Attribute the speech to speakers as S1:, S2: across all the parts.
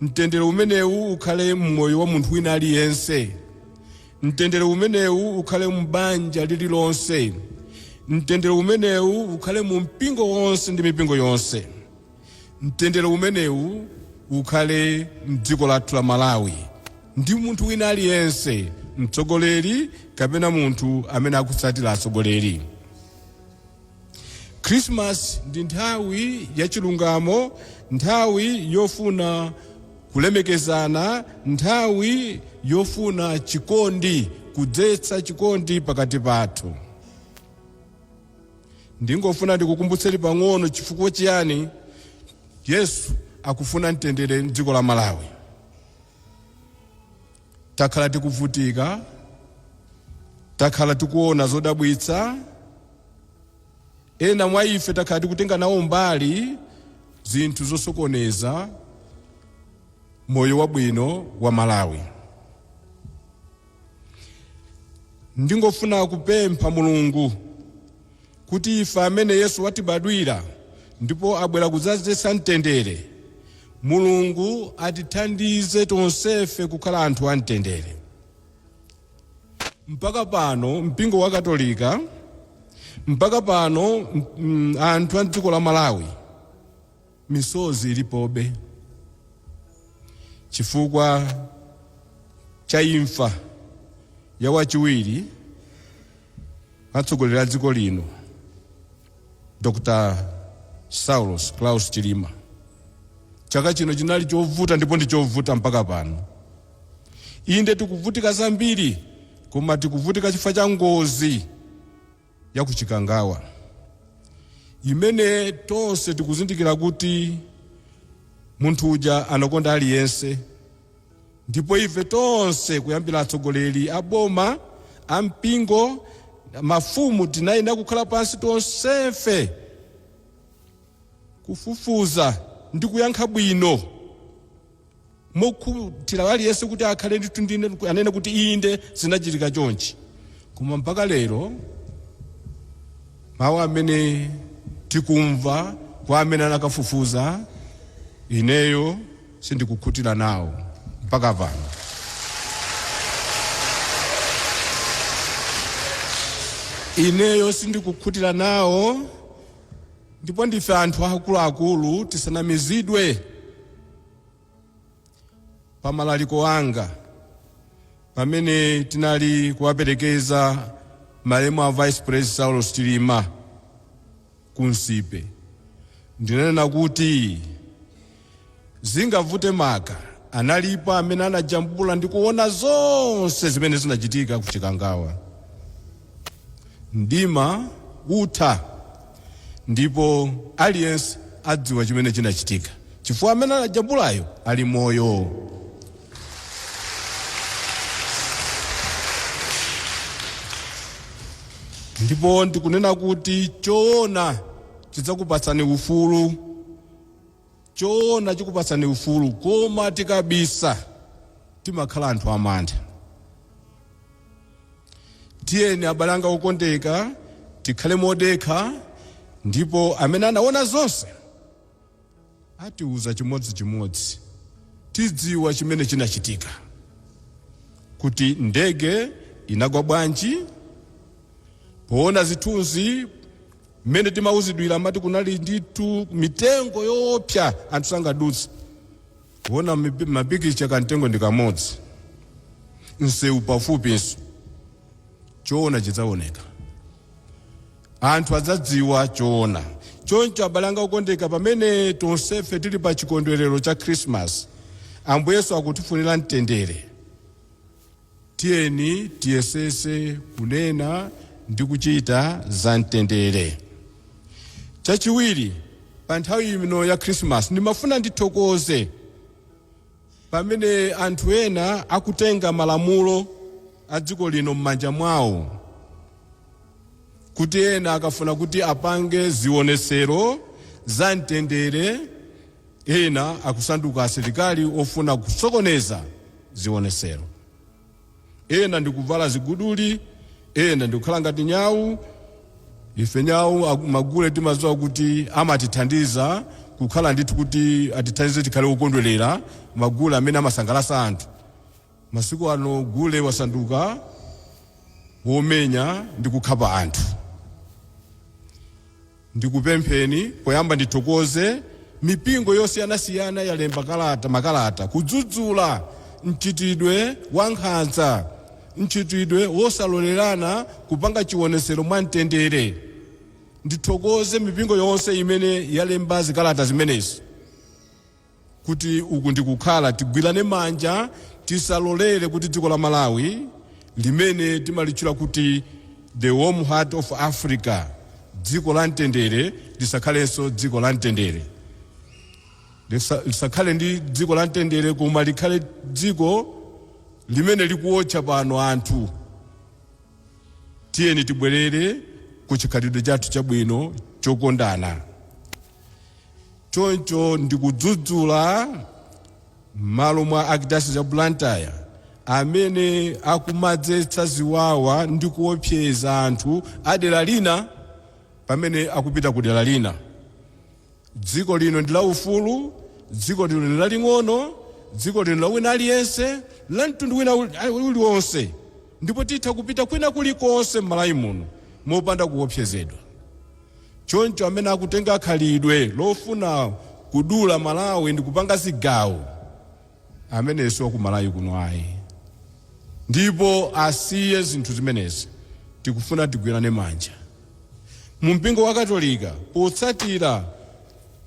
S1: Mtendere umenewu ukhale m'moyo wa munthu wina aliyense. Mtendere umenewu ukhale m'banja lililonse. Mtendere umenewu ukhale mu mpingo wonse ndi mipingo yonse. Mtendere umenewu ukhale m'dziko lathu la Malawi ndi munthu wina aliyense, mtsogoleri kapena munthu amene akutsatira atsogoleri. Khrisimasi ndi nthawi ya chilungamo, nthawi yofuna kulemekezana, nthawi yofuna chikondi, kudzetsa chikondi pakati pathu. Ndingofuna ndikukumbutseni pang'ono chifukwa chiyani Yesu akufuna mtendere m'dziko la Malawi. Takhala tikuvutika, takhala tikuona zodabwitsa, ena mwa ife takhala tikutenga nawo mbali zinthu zosokoneza moyo wabwino wa Malawi. Ndingofuna kupempha Mulungu. kuti ife amene Yesu watibadwira ndipo abwera kudzadzetsa mtendere, Mulungu atithandize tonsefe kukhala anthu a mtendere. Mpaka pano mpingo wa Katolika, mpaka pano anthu a mdziko la Malawi Misozi ilipobe chifukwa cha imfa ya wachiwiri atsogoleri a dziko lino Dr. Saulos Klaus Chilima. Chaka chino chinali chovuta ndipo ndi chovuta mpaka pano. Inde tikuvutika zambiri koma tikuvutika chifukwa cha ngozi ya ku Chikangawa imene tonse tikuzindikira kuti munthu uja anakonda aliyense ndipo ife tonse kuyambira atsogoleri a boma a mpingo mafumu tinayenera kukhala pansi tonsefe kufufuza ndi kuyankha bwino mokhutira aliyense kuti akhale ndithu ndi anene kuti inde zinachitika chonchi koma mpaka lero mawu amene tikumva kwa amene anakafufuza ineyo sindikukhutira nawo mpaka pano ineyo sindikukhutira nawo Ndipo ndife anthu akuluakulu tisanamizidwe pa malaliki anga pamene tinali kuwaperekeza malemu a vice pres Saulos Chilima ku Nsipe ndinanena kuti Zingavute maka analipo amene anajambula ndi kuona zonse zimene zinachitika ku Chikangawa. Mdima utha ndipo aliyense adziwa chimene chinachitika chifukwa amene anajambulayo ali moyo. Ndipo ndikunena kuti choona chidzakupatsani ufulu. Choona chikupatsani ufulu koma tikabisa timakhala anthu amantha. Tiyeni abale anga okondeka tikhale modekha ndipo amene anaona zonse atiuza chimodzi chimodzi tidziwa chimene chinachitika kuti ndege inagwa bwanji, poona zithunzi, Mmene timauzidwira amati kunali ndithu mitengo yoopsa anthu sangadutse. Kuona mapikicha kamtengo ndi kamodzi, msewu pafupinso. Choona chidzaoneka. Anthu adzadziwa choona. Choncho abale anga okondeka, pamene tonsefe tili pa chikondwerero cha Khirisimasi, Ambuye Yesu akutifunira mtendere. Tiyeni tiyesetse kunena ndi kuchita za mtendere. Chachiwiri, pa nthawi ino ya Khirisimasi ndimafuna ndithokoze pamene anthu ena akutenga malamulo a dziko lino m'manja mwawo, kuti ena akafuna kuti apange zionetsero za mtendere. Ena akusanduka asilikali ofuna kusokoneza zionetsero. Ena ndi kuvala ziguduli, ena ndi kukhala ngati nyau. Ife nyau, magule timadziwa kuti amatithandiza kukhala ndithu kuti atithandize tikhale okondwerera, magule amene amasangalatsa anthu. Masiku ano gule wasanduka womenya ndi kukhapa anthu. Ndikupempheni poyamba ndithokoze mipingo yosiyanasiyana yalemba kalata, makalata kudzudzula mchitidwe wa nkhanza, mchitidwe wosalolerana kupanga chionetsero mwa mtendere. Ndithokoze mipingo yonse imene yalemba zikalata zimenezi kuti uku ndikukhala tigwirane manja tisalolere kuti dziko la Malawi limene timalitchula kuti the warm heart of Africa dziko la mtendere lisakhalenso dziko la mtendere lisakhale ndi dziko la mtendere koma likhale dziko limene likuotcha pano anthu tiyeni tibwerere ku chikhalidwe chathu chabwino chokondana Choncho ndikudzudzula m'malo mwa Archdiocese ya Blantyre amene akumadzetsa ziwawa ndi kuopseza anthu a dera lina pamene akupita ku dera lina. Dziko lino ndi la ufulu, dziko lino ndi laling'ono, dziko lino la wina aliyense, la mtundu wina uliwonse ndipo titha kupita kwina kulikonse m'Malawi muno mopanda kuopsezedwa. Choncho amene akutenga khalidwe lofuna kudula malawi ndikupanga zigawo ameneyo siwakumalawi kuno ayi ndipo asiye zinthu zimenezi tikufuna tigwirane manja mumpingo wakatolika potsatira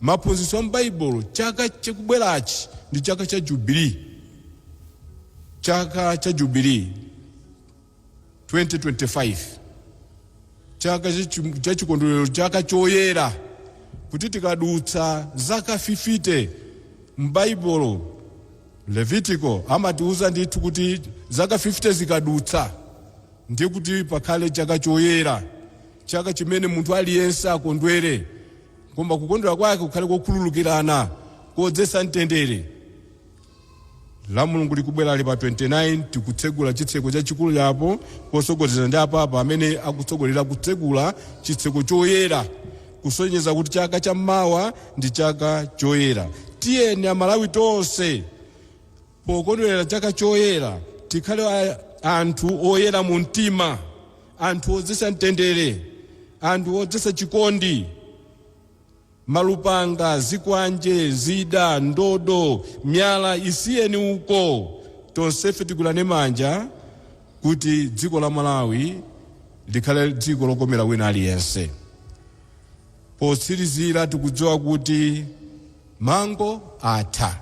S1: maphunzitso a m'baibulo chaka chikubwerachi ndi chaka cha jubilee chaka cha jubilee. 2025 chaka chachi- cha chikondwerero chaka choyera kuti tikadutsa zaka 50 m'baibulo levitiko amatiuza ndithu kuti zaka 50 zikadutsa ndiye kuti pakhale chaka choyera chaka chimene munthu aliyense akondwere koma kukondwera kwake kukhale kokhululukirana kodzetsa mtendere Lamulungu likubwerali pa 29 tikutsegula chitseko chachikulu chapo posogozedwa ndi apapa amene akutsogolera kutsegula chitseko choyera kusonyeza kuti chaka cha mawa ndi chaka choyera. Tiyeni amalawi tonse pokondwelera chaka choyera tikhale anthu oyera mu mtima, anthu odzesa mtendere, anthu odzesa chikondi. Malupanga, zikwanje, zida, ndodo, myala isiyeni uko. Tonsefe tigwirane manja kuti dziko la Malawi likhale dziko lokomera wina aliyense. Potsirizira tikudziwa kuti mango atha.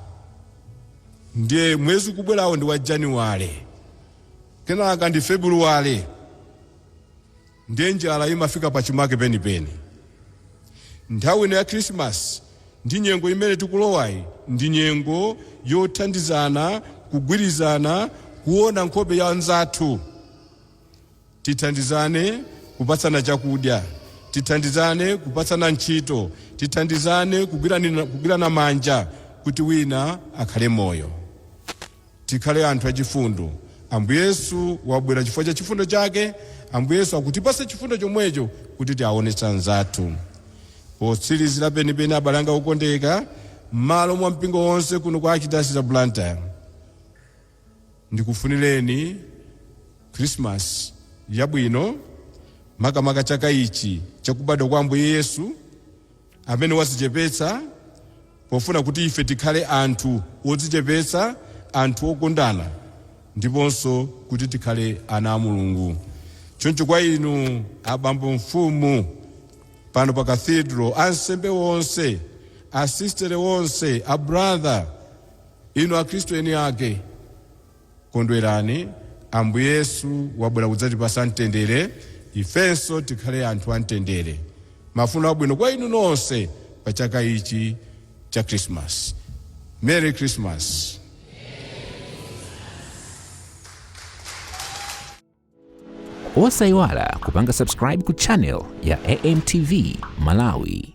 S1: Ndiye mwezi ukubwerawo ndi wa Januwale, kenaka ndi Febuluwale. Ndiye njala imafika pachimake penipeni. Nthawi ino ya Khirisimasi ndi nyengo imene tikulowayi ndi nyengo yothandizana, kugwirizana, kuona nkhope ya mnzathu. Tithandizane kupatsana chakudya, tithandizane kupatsana ntchito, tithandizane kugwirana manja kuti wina akhale moyo. Tikhale anthu achifundo. Ambuye Yesu wabwera chifukwa cha chifundo chake. Ambuye Yesu akutipatsa chifundo chomwecho kuti tiawonetse anzathu. Potsirizira penipeni, abale anga okondeka, mmalo mwa mpingo wonse kuno ku Archdiocese ya Blantyre, ndikufunireni Khrisimasi yabwino, makamaka chaka ichi cha kubadwa kwa Ambuye Yesu. amene wazichepetsa pofuna kuti ife tikhale anthu odzichepetsa, anthu okondana ndiponso kuti tikhale ana a Mulungu. Choncho kwa inu abambo mfumu pano pa Cathedral, ansembe onse, asistere onse, abratha, inu akhristu eni ake, Kondwerani, Ambuye Yesu wabwera kudzatipatsa mtendere, ifenso tikhale anthu a mtendere. Mafuno abwino kwa inu nonse pa chaka ichi cha Khrisimasi. Merry Christmas!
S2: Osaiwala kupanga subscribe ku channel ya AMTV Malawi.